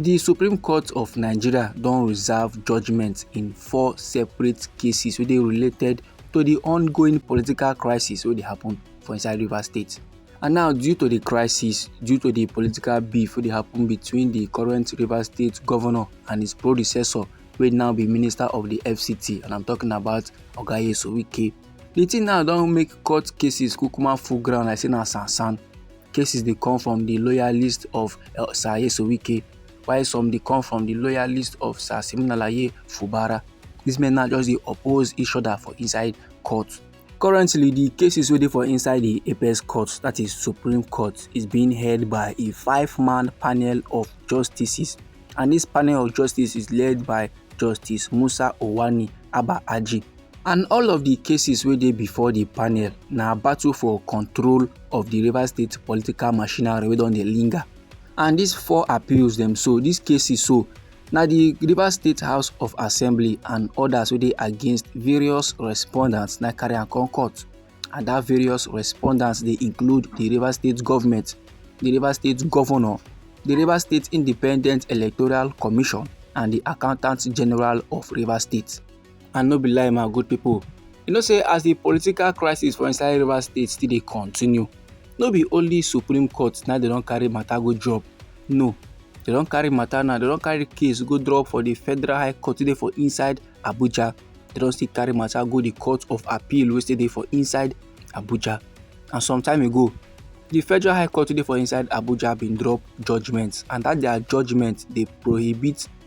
Di Supreme Court of Nigeria don reserve judgement in four separate cases wey dey related to di ongoing political crisis wey dey happen for inside Rivers State. And now due to di crisis, due to di political beef wey dey happen between di current Rivers State governor and his predecessor wey now be minister of di FCT and I'm talking about Oga Nyesom Wike. Di thing now don make court cases kukuma full ground like say na sansan. cases dey come from di loyalist of uh, Sir Nyesom Wike, while some dey come from di loyalist of Sir Siminalayi Fubara. Dis men now just dey oppose each other for inside court. Currently, di cases wey dey for inside di apex court, that is Supreme Court, is being heard by a five-man panel of justices, and dis panel of justices is led by Justice Musa Owani Aba Aji. and all of di cases wey dey before di panel na battle for control of di rivers state political machinery wey don dey linger and dis four appeals dem so dis cases so na di rivers state house of assembly and odas wey dey against various respondents na carry am come court and dat various respondents dey include di rivers state government di rivers state governor di rivers state independent electoral commission and di accountant general of rivers state And no be lie my good people, you know say as the political crisis for inside Rivers State still dey continue, no be only Supreme Court na dem don carry matter go drop, no, dem don carry matter now, dem don carry case go drop for the Federal High Court wey dey for inside Abuja, dem don still carry matter go the Court of Appeal wey still dey for inside Abuja. And some time ago, the Federal High Court wey dey for inside Abuja bin drop judgement and that their judgement dey prohibit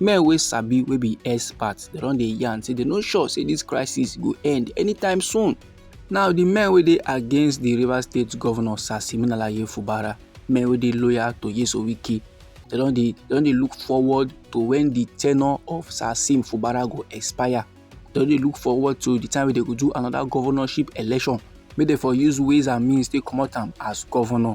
men wey sabi wey be experts dem don dey yarn say dem no sure say this crisis go end anytime soon now the men wey dey against the rivers state governor sir siminalayi fubara men wey dey loyal to yeso wike dem don dey dem don dey look forward to when the tenure of sir sim fubara go expire dem don dey look forward to the time wey dem go do another governorship election make dem for use ways and means take comot am as governor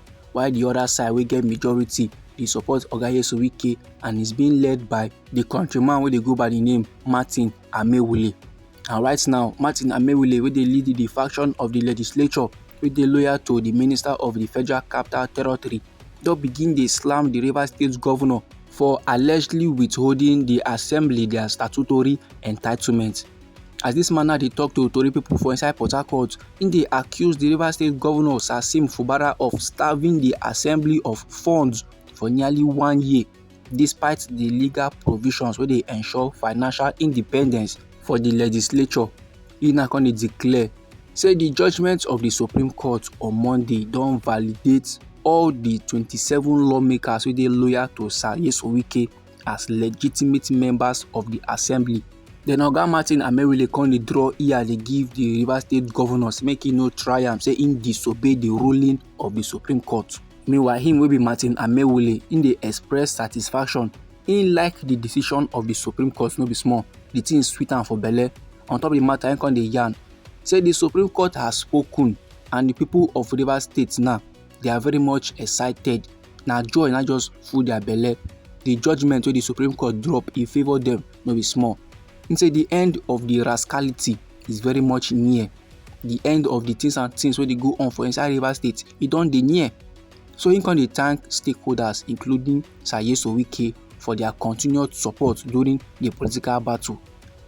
while di oda side wey get majority dey support oga nyesom wike and is being led by di countryman wey dey go by di name martin amaewhule and right now martin amaewhule wey dey lead di faction of di legislature wey dey loyal to di minister of di federal capital territory don begin dey slam di rivers state govnor for allegedly withholding di assembly dia statutory entitlement As dis man now dey talk to tori pipo for inside Port Harcourt, im dey accuse di Rivers State Governor Sasim Fubara of starving di assembly of funds for nearly one year despite di legal provisions wey dey ensure financial independence for di legislature. Im now come dey declare say di judgement of di Supreme Court on Monday don validate all di twenty seven lawmakers wey dey loyal to Sir Nyesom Wike as legitimate members of di assembly. Then Oga Martin Amaewhule come dey draw ear dey give di Rivers State governors make e no try am say im disobey di ruling of di Supreme Court. Meanwhile, him wey be Martin Amaewhule, im dey express satisfaction. Im like di decision of di Supreme Court no be small. Di thing sweet am for belle. On top di matter, im come dey yarn say di Supreme Court has spoken and di people of Rivers State now they are very much excited na joy na just full their belle the judgment wey the supreme court drop e favour them no be small he say the end of the rascality is very much near the end of the things and things wey dey go on for inside rivers state e don dey near so he come dey thank stakeholders including sayeso wike for their continued support during the political battle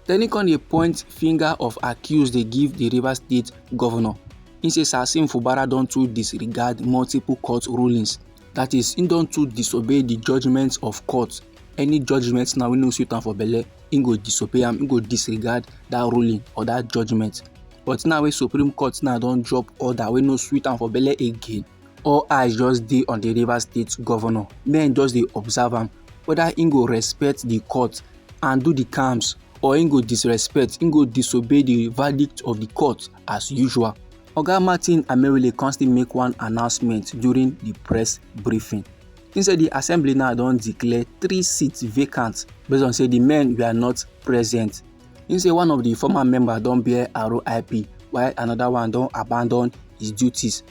Then he come dey point finger of accuse dey give the Rivers State governor. He say Sasim Fubara don too disregard multiple court rulings. That is, he don too disobey the judgments of court. Any judgment now we no suit am for belle, he go disobey am, he go disregard that ruling or that judgment. But now wey Supreme Court now don drop order wey no suit am for belle again, all eyes just dey on the Rivers State governor. Men just dey observe am whether he go respect the court and do the calms or he go disrespect, he go disobey the verdict of the court as usual. Oga Martin Amerule come still make one announcement during the press briefing. He said the assembly now don declare three seats vacant based on say the men were not present. He say one of the former members don bear RIP while another one don abandon his duties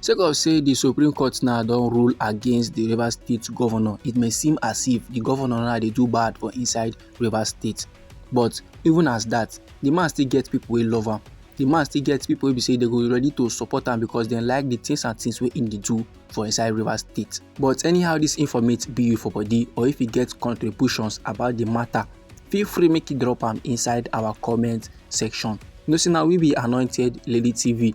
sake of say di supreme court now don rule against di rivers state govnor it may seem as if di govnor now dey do bad for inside rivers state but even as dat di man still get pipo wey love am di man still get pipo wey be say dem go ready to support am becos dem like di tins and tins wey im dey do for inside rivers state but anyhow dis informate be you for body or if you get contributions about di matter feel free make you drop am inside our comment section you know say na we be anointed lady tv